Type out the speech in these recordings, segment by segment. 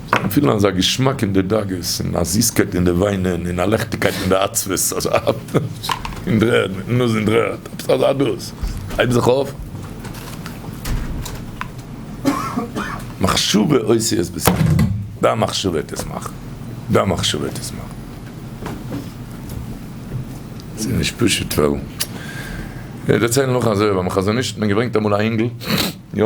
זיי פילן אזא געשמאק אין די דאגות, און א זיסקייט אין די וויינען, און א לעכטיגקייט אין די עצבות, אזא האפט אין דער ערד, מיטן נאז אין דער ערד, עפעס אזא דאס הייבן זיך אויף, מחשבה עושה את בעשיה, דיין מחשבה וועט עס מאכן, דיין מחשבה וועט עס מאכן. ס'איז נישט פשוט ווייל, איך דערצייל נאך אזוי, ביים חזון איש האט מען געברענגט אמאל א אינגל, יא?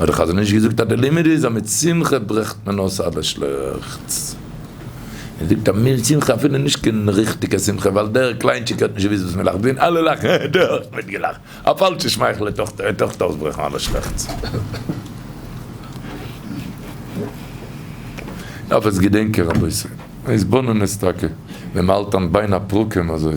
האט דער חזון איש געזאגט אז די לימוד איז אז מיט שמחה ברעכט מען אויס אלע שלעכטס. ער זאגט אז מין שמחה אפילו נישט קיין ריכטיגע שמחה ווייל דער קליינטשיק האט נישט געוויסט וואס מ'לאכט ווען אלע לאכן האט ער אויך מיט געלאכט. א פאלשע שמייכל וועט אויך וועט אויך אויסברעכן אלע שלעכטס. עפעס געדענק איך רבותי. עס באנען עס טאקע ווען מ'האלט אן ביין א פרקים אזוי.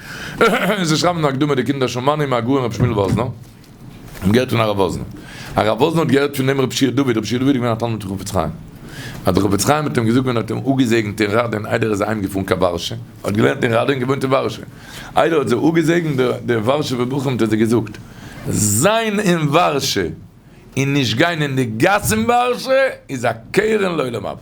זיי שרייבן אין די הקדמה די קינדער של מנין מהגאון רבי שמואל וואזנער האבן געהערט פון הרב וואזנער, הרב וואזנער האט געהערט פון דעם רבי שיח דוד, רבי שיח דוד איז געווען א תלמיד פון חפץ חיים, אז דער חפץ חיים האט אים געזאגט ווען ער האט אים אפגעזעגנט אין ראדין איידער ער איז אהיים געפארן קיין ווארשע, ער האט געלערנט אין ראדין און געוואוינט אין ווארשע, איידער ער האט זיי אפגעזעגנט די ווארשעווע בחורים האט ער זיי געזאגט זיין אין ווארשע. און נישט גיין אין די גאס אין ווארשע איז א קרן לעולם הבא.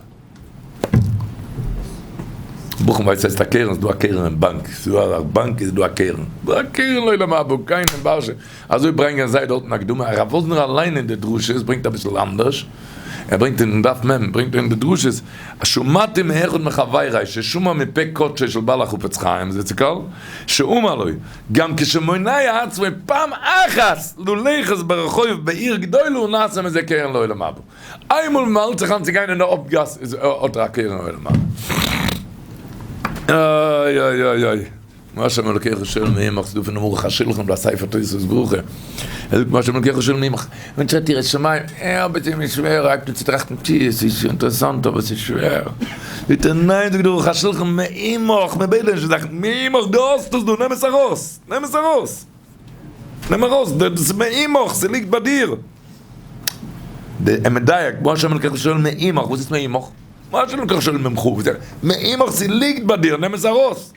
ברוך'ן ווייסט ס'הייסט א קרן, ס'דא א קרן אין באנק, ס'דא א באנק איז דא א קרן, ס'דא א קרן לעולם הבא, גיין אין ווארשע, אזוי ברענגען זיי דארטן הקדמה, הרב וואזנער אליין אין די דרשות ברענגט אביסל אנדערש, ער ברענגט אין דף מ' ברענגט ער אין די דרשות, שמעתי מאחד מחביריי ששמע מפה קודשו של בעל החפץ חיים זצוקל שאמר לו, גם כשמונאי עצמו פעם אחת ללכת ברחוב בעיר גדולה הוא נעשה מזה קרן לעולם הבא. איינמאל ווען מען האלט זיך איין צו גיין אין די הויפט גאס איז האט ער א קרן לעולם הבא. איי איי איי איי. מה שם אלוקיך שואל מעמך, ס'דא פונעם ערוך השולחן דא א ספר תוספות ברכה. ער זאגט מה שם אלוקיך שואל מעמך. ווען טרעט איר עס צום עין? אה, אבער ס'איז מיר שווער, הייבט אן צו טראכטן, טשי, עס איז שוין אינטערעסאנט, אבער ס'איז שווער. זאגט ער, ניין, זאגט דער ערוך השולחן, מע עמך, מיר בעדען נישט די זאכן, מע עמך, דו האסט עס דא, נעם עס ארויס, נעם עס ארויס, נעם ארויס, דאס איז מע עמך, ס'ליגט ביי דיר. דער ער מדייק, מה השם אלקיך שואל מע עמך, וואס איז מע עמך? מה השם אלקיך שואל ממך? מע עמך, ס'ליגט ביי דיר, נעם עס ארויס.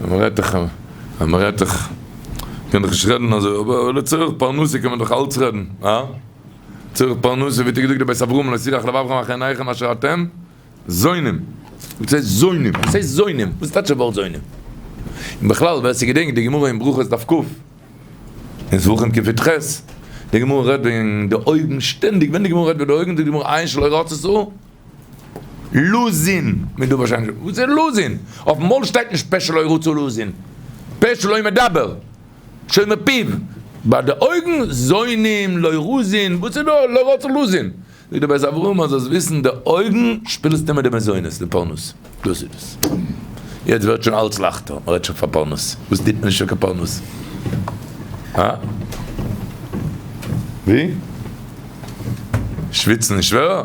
מען רעדט דאך, מען רעדט דאך, מען קען דאך נישט רעדן אזוי, אבער לצורך פרנסה קען מען דאך אלץ רעדן, הא? לצורך פרנסה, ווי האט געזאגט די בית אברהם, לא ישיחך לבבכם אחרי עיניכם אשר אתם זונים. וואס הייסט זונים? וואס הייסט זונים? וואס טייטש דער ווארט זונים? און בכלל ווער ס'געדענקט די גמרא אין ברכות דף ק, אין זבחים קפיט ח, די גמרא רעדט וועגן די אויגן שטענדיג, ווען די גמרא רעדט וועגן די אויגן זאגט די גמרא עיין שלא ראתה שררה. לוזין, מען דא ווארשיינליך, וואס איז לוזין? אויפן מויל שטייט נישט פה שלא ירצו לוזין, פה שלא מדבר, שומר פיו, ביי די אויגן זוינים, לא רוזין, וואס איז דא לא רוצה לוזין? זאגט דער בית אברהם מען זאל עס וויסן די אויגן שפילסט אימער די מזונות די פרנס, דאס איז דאס, יעצט ווערט שוין אלץ לייכטער, מען רעדט שוין פאר פרנס, וואס טוט מען נישט פאר קיין פרנס? הא? ווי? שוויצן איז שווערער?